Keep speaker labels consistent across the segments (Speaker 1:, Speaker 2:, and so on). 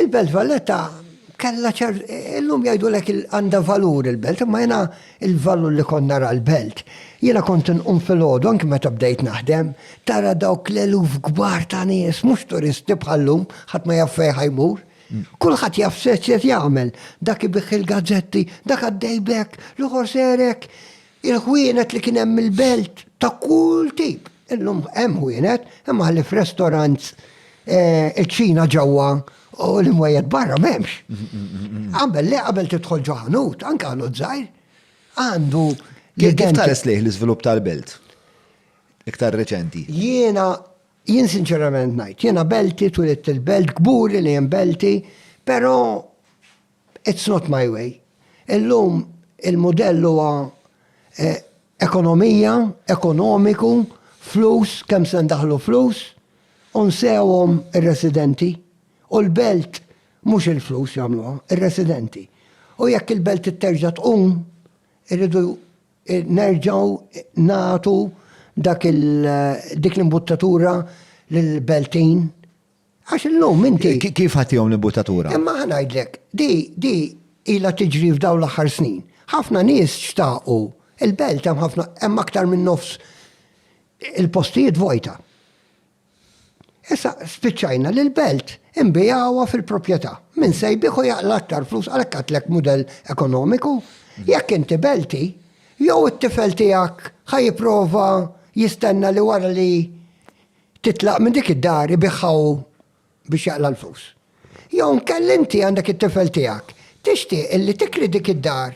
Speaker 1: Il-Belt Valletta kella ċer, illum jajdu lek għanda valur il-belt, imma jena il-valur li konna ra l-belt. Jena kont un fil-ħodu, anki meta bdejt naħdem, tara dawk l-eluf gbar ta' nies, mux turisti bħallum, ħat ma jaffej ħajmur. Mm. Kulħat jaff seċċet jgħamil, dak ibiħ il-gazzetti, dak għaddejbek, l-uħor serek. Il-ħwienet li kien hemm il-belt ta' kull tip. Illum hemm ħwienet, imma ħlief restaurants, iċ-ċina ġewwa u l-imwejjed barra m'hemmx. Qabel le, qabel tidħol ġo ħanut, anke ħanut żgħir, għandu Kif tħares lejh l-iżvilupp tal-belt? Iktar reċenti. Jiena, jien sinċerament ngħid, jiena belti, twilit il-belt, kburi li hemm belti, però It's not my way. Illum il-mudell huwa ekonomija, ekonomiku, flus, kemm se ndaħħlu flus u nsewhom ir-residenti. U l-belt mhux il-flus jagħmluha, ir-residenti. U jekk il-belt terġa' tqum, irridu nerġgħu nagħtu dak dik l-imbuttatura lill-beltin. Għax illum inti. Kif ħattihom l-imbuttatura? Imma ħa ngħidlek, di, di ilha tiġri f'dawn l-aħħar snin. Ħafna nies xtaqu, il-belt hemm ħafna, hemm aktar minn nofs il-postijiet vojta. Issa spiċċajna li l-belt imbigħuha fil-proprjetà. Min se jbih u jaqla aktar flus għalhekk għatlek mudell ekonomiku. Jekk inti belti, jew it-tifel tiegħek ħa jipprova jistenna li wara li titlaq minn dik id-dar ibiħha hu biex jaqla' l-flus. Jew inkella inti għandek it-tifel tiegħek, tixtieq illi tikri dik id-dar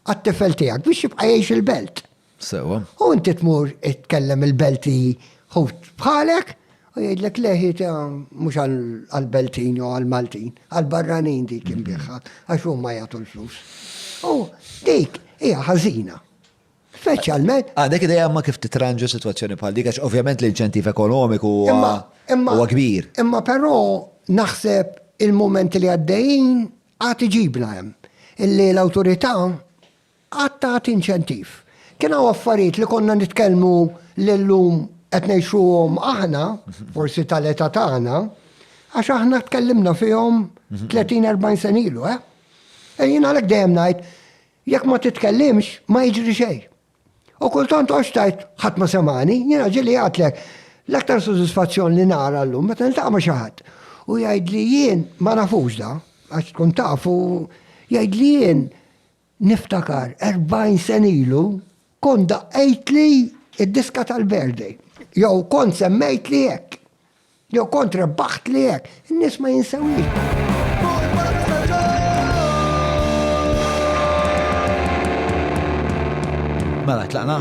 Speaker 1: għat-tifel tiegħek biex jibqa' jgħix il-belt. Sewwa. U inti tmur tkellem il-belt li ħut bħalek u jgħidlek le hi mhux għall-Beltin jew għall-Maltin, għall-barranin dik inbiħha għax huma jagħtu l-flus. U dik hija ħażina. Speċjalment. Għandek ideja ma kif titranġa situazzjoni bħal dik, għax ovvjament l-inċentiv ekonomiku huwa kbir. Imma però naħseb il-momenti li għaddejjin għad iġibna hemm. Illi l-awtorità għad tagħti inċentiv. Kien hawn affarijiet li konna nitkellmu l-lum qed ngħixuhom aħna, forsi tal-età tagħna, għax aħna tkellimna fihom 30-40 senilu, eh? Ejjin għalhekk dejjem ngħid, Jekk ma titkellimx, ma jiġri xejn. U kultant għoxx tgħid ħadd ma semgħani, jiena ġieli għedtlek, l-aktar sodisfazzjon li nara llum meta niltaqa' ma' xi ħadd u jgħidli jien, ma nafux da, għax tkun taf u jgħidli jien niftakar 40 sena ilu kont daqqejtli d-diska tal-birthday jew kont semmejtli hekk. Jew kontra baħt li hekk, in-nies ma jinsewix. Mela tlaqna?